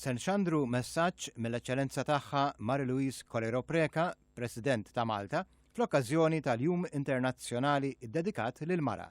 Se nxandru messaġġ mill-Eċċellenza Tagħha Marie Louise Colero Preca, President ta' Malta, fl-okkażjoni tal-Jum Internazzjonali ddedikat lill-Mara.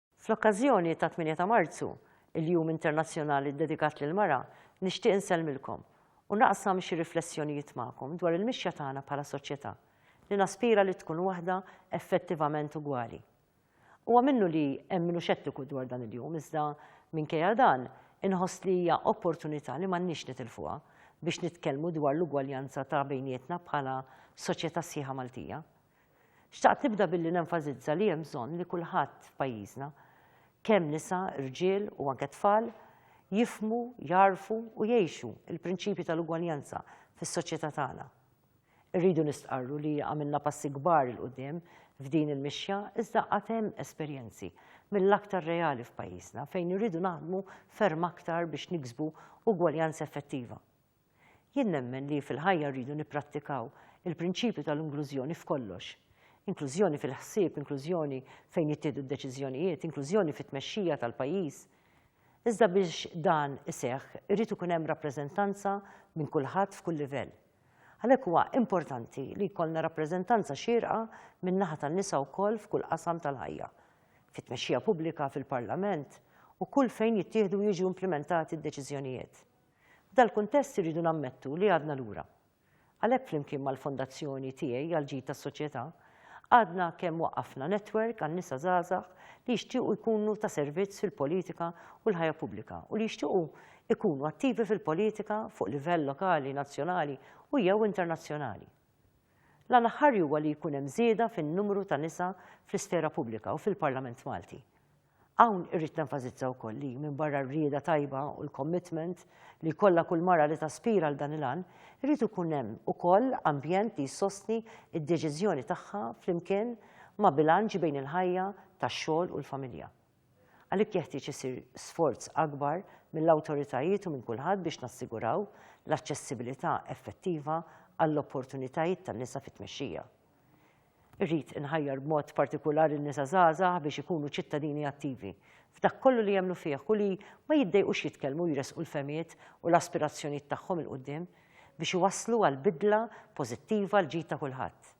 Fl-okkażjoni tat-8 ta' Marzu, il-Jum Internazzjonali ddedikat lill-Mara, nixtieq insellmilkom u naqsam xi riflessjonijiet magħkom dwar il-mixja tagħna bħala soċjetà li naspira li tkun waħda effettivament ugwali. Huwa minnu li hemm min hu xettiku dwar dan il-jum iżda, minkejja dan, inħoss li hija opportunità li m'għandniex nitilfuha biex nitkellmu dwar l-ugwaljanza ta' bejnietna bħala soċjetà sħiħa Maltija. Xtaqt nibda billi nenfasizza li hemm bżonn li kulħadd f'pajjiżna, kemm nisa, rġiel u anke tfal, jifhmu, jagħrfu u jgħixu l-prinċipji tal-ugwaljanza fis-soċjetà tagħna. Irridu nistqarru li għamilna passi kbar 'il quddiem f'din il-mixja iżda għad hemm esperjenzi mill-aktar reali f'pajjiżna fejn irridu naħdmu ferm aktar biex niksbu ugwaljanza effettiva. Jien nemmen li fil-ħajja rridu nipprattikaw il-prinċipju tal-inklużjoni f'kollox. Inklużjoni fil-ħsieb, inklużjoni fejn jittieħdu d-deċiżjonijiet, inklużjoni fit-tmexxija tal-pajjiż. Iżda biex dan iseħħ irid ikun hemm rappreżentanza minn kulħadd f'kull livell. Għalhekk huwa importanti li jkollna rappreżentanza xierqa min-naħa tan-nisa wkoll f'kull qasam tal-ħajja, fit-tmexxija pubblika, fil-Parlament u kull fejn jittieħdu u jiġu implimentati d-deċiżjonijiet. F'dal-kuntest irridu nammettu li għadna lura. Għalhekk flimkien mal-Fondazzjoni tiegħi għall-Ġid tas-Soċjetà, għadna kemm waqqafna netwerk għan-nisa żgħażagħ li jixtiequ jkunu ta' servizz fil-politika u l-ħajja pubblika u li jixtiequ jkunu attivi fil-politika fuq livell lokali, nazzjonali u jew internazzjonali. L-għan aħħari huwa li jkun hemm żieda fin-numru ta' nisa fl-isfera pubblika u fil-Parlament Malti. Hawn irrid nenfasizza wkoll li, minbarra r-rieda tajba u l-commitment li jkollha kull mara li taspira għal dan il-għan, irid ikun hemm ukoll ambjent li jsostni d-deċiżjoni tagħha flimkien ma' bilanċ bejn il-ħajja tax-xogħol u l-familja. Għalhekk jeħtieġ isir sforz akbar mill-awtoritajiet u minn kulħadd biex nassiguraw l-aċċessibilità effettiva għall-opportunitajiet tan-nisa fit-tmexxija. Irrid inħajjar b'mod partikulari n-nisa żgħażagħ biex ikunu ċittadini attivi, f'dak kollu li jemmnu fih u li ma jiddejqux jitkellmu u jressqu l-fehmiet u l-aspirazzjonijiet tagħhom 'il quddiem biex iwasslu għal bidla pożittiva għall-ġid ta' kulħadd.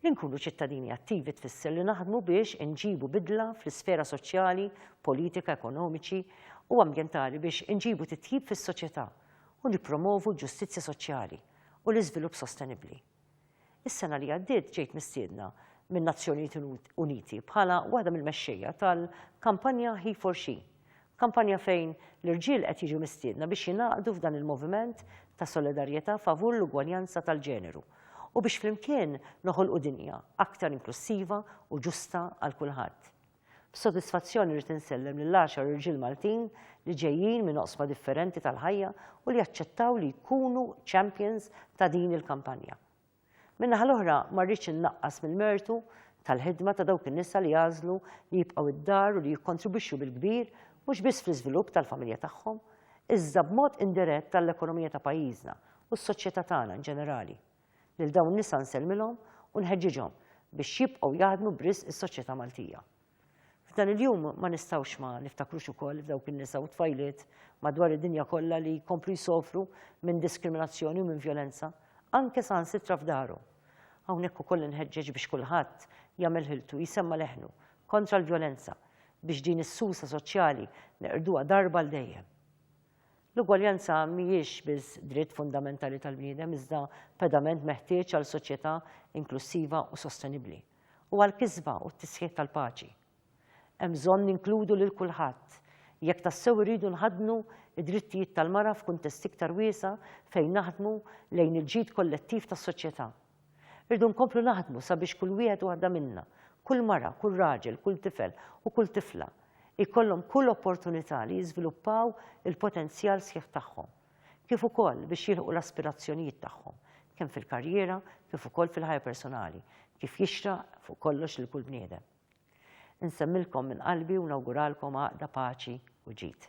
Li nkunu ċittadini attivi tfisser li naħdmu biex inġibu bidla fl-isfera soċjali, politika, ekonomiċi u ambjentali biex inġibu titjib fis-soċjetà u nippromovu l-ġustizzja soċjali u l-iżvilupp sostenibbli. Is-sena li għaddiet ġejt mistiedna min-Nazzjonijiet Uniti bħala waħda mill-mexxejja tal-kampanja He for She, kampanja fejn l-irġiel qed jiġu mistiedna biex jingħaqdu f'dan il-moviment ta' solidarjetà favur l-ugwaljanza tal-ġeneru u biex flimkien noħolqu dinja aktar inklussiva u ġusta għal kulħadd. B'sodisfazzjon irrid insellem lill-għaxar irġiel Maltin li ġejjin minn oqsma differenti tal-ħajja u li aċċettaw li jkunu champions ta' din il-kampanja. Min-naħa l-oħra ma rridx innaqqas mill-mertu tal-ħidma ta' dawk in-nisa li għażlu li jibqgħu d-dar u li jikkontribwixxu bil-kbir mhux biss fl-iżvilupp tal-familja tagħhom, iżda b'mod indirett għall-ekonomija ta' pajjiżna u s-soċjetà tagħna inġenerali. Lil dawn in-nisa nsellmilhom u nħeġġiġhom biex jibqgħu jaħdmu b'risq is-soċjetà Maltija. F'dan il-jum ma nistgħux ma niftakrux ukoll f'dawk in-nisa u t-tfajliet madwar id-dinja kollha li jkomplu jsofru minn diskriminazzjoni u minn vjolenza, anke saħansitra f'darhom. Hawnhekk ukoll inħeġġeġ biex kulħadd jagħmel ħiltu jsemma' leħnu kontra l-vjolenza biex din is-susa soċjali neqirduha darba għal dejjem. L-ugwaljanza mhijiex biss dritt fundamentali tal-bniedem iżda pedament meħtieġ għal soċjetà inklussiva u sostenibbli, u għall-kisba u t-tisħiħ tal-paċi. Hemm bżonn ninkludu lil kulħadd, jekk tassew irridu nħaddnu d-drittijiet tal-mara f'kuntest iktar wiesa' fejn naħdmu lejn il-ġid kollettiv tas-soċjetà. Irridu nkomplu naħdmu sabiex kull wieħed u waħda minna, kull mara, kull raġel, kull tifel u kull tifla, jkollhom kull opportunità li jiżviluppaw il-potenzjal sħiħ tagħhom, kif ukoll biex jilħqu l-aspirazzjonijiet tagħhom, kemm fil-karriera kif ukoll fil-ħajja personali, kif jixraq fuq kollox lil kull bniedem. Insemmilkom minn qalbi u nawguralkom għaqda, paċi u ġid.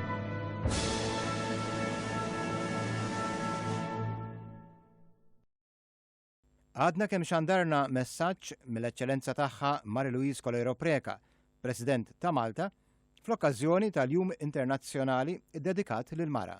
Għadna kemm xandarna messaġġ mill-eċċellenza tagħha Mari Louise Colero Preka, President ta' Malta, fl-okkażjoni tal-Jum Internazzjonali ddedikat lil mara.